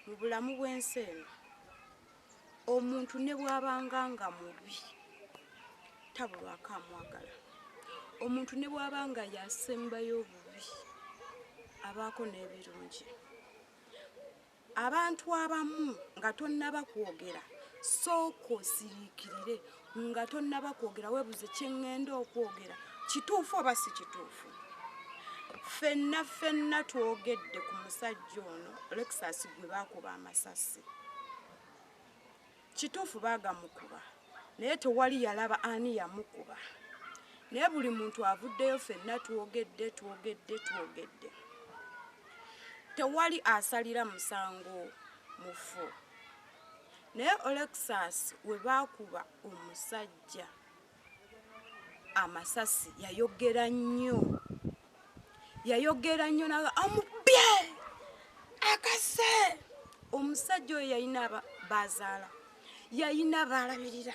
mu bulamu bw'ensi eno omuntu ne bwabanga nga mubi tabulwako amwagala omuntu ne bwabanga yasembayo obubi abaako n'ebirungi abantu abamu nga tonnaba kwogera sooka osiriikirire nga tonnaba kwogera webuze kyeŋŋenda okwogera kituufu oba si kituufu ffenna ffenna twogedde ku musajja ono lexus gwe baakuba amasasi kituufu baagamukuba naye tewali yalaba ani yamukuba naye buli muntu avuddeyo ffenna twogedde twogedde twogedde tewali asalira musango mufu Naye Olexus webaakuba omusajja amasasi yayogera nnyo yayogera nnyo naga amubye akase omusajja oyo yalina bazaala yalina baalabirira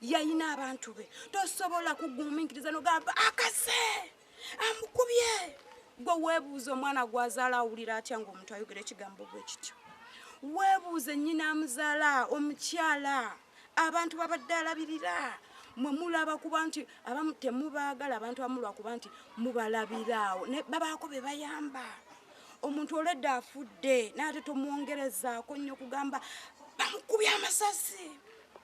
yalina abantu be tosobola kugumiikiriza nogamba akase amukubye gwe weebuuza omwana gwazaala awulira atya ngaomuntu ayogera ekigambo gwe kityo weebuuze nyina amuzaala omukyala abantu babadde alabirira mwe mulaba kuba nti abamu temubaagala abantu amulwa kuba nti mubalabiraawo babaako be bayamba omuntu oledde afudde naye ate tomwongerezaako nnyo kugamba bamukubye amasasi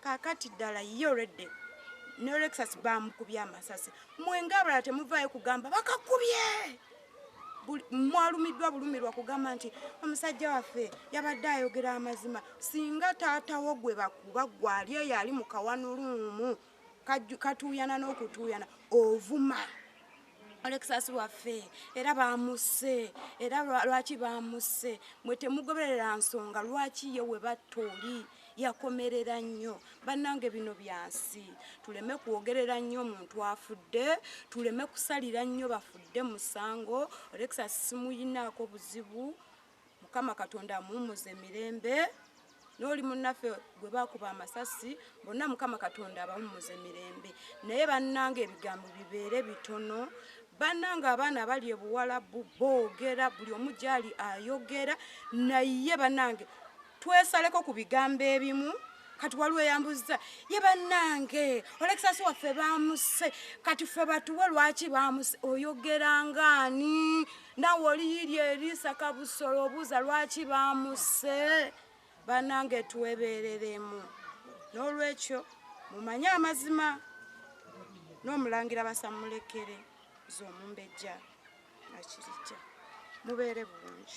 Kakati dala ye already ne Lexus bamukubye amasasi mwe nga abalala temuvayo kugamba bakakubye mwalumiddwa bulumirwa kugamba nti omusajja waffe yabadde ayogera amazima singa taatawo gwe bakuba gwali eyo ali mukawanuluumu katuuyana n'okutuuyana ovuma Alexas waffe era baamusse era lwaki baamusse mwe temugoberera nsonga lwaki ye we batta oli yakomerera nnyo bannange bino byansi tuleme kwogerera nnyo omuntu afudde tuleme kusalira nnyo bafudde musango Alexas simuyinaako buzibu mukama katonda amuwumuze mirembe noli munaffe gwe bakuba amasasi bonna mukama katonda abawumuze mirembe naye bannanga ebigambo bibeere bitono bannanga abaana abali ebuwalabu boogera buli omu gyali ayogera naye bannange Twesaleko ku bigambo ebimu kati waliwo eyambuzza ye bannange olekisasi waffe baamusse kati ffe batuwe lwaki baamusse oyogera ngaani nawe oliyiiri eriisa kabusolo obuuza lwaki baamusse bannange twebeereremu n'olwekyo mumanye amazima n'omulangira basamulekere z'omumbejja akirijja mubeere bulungi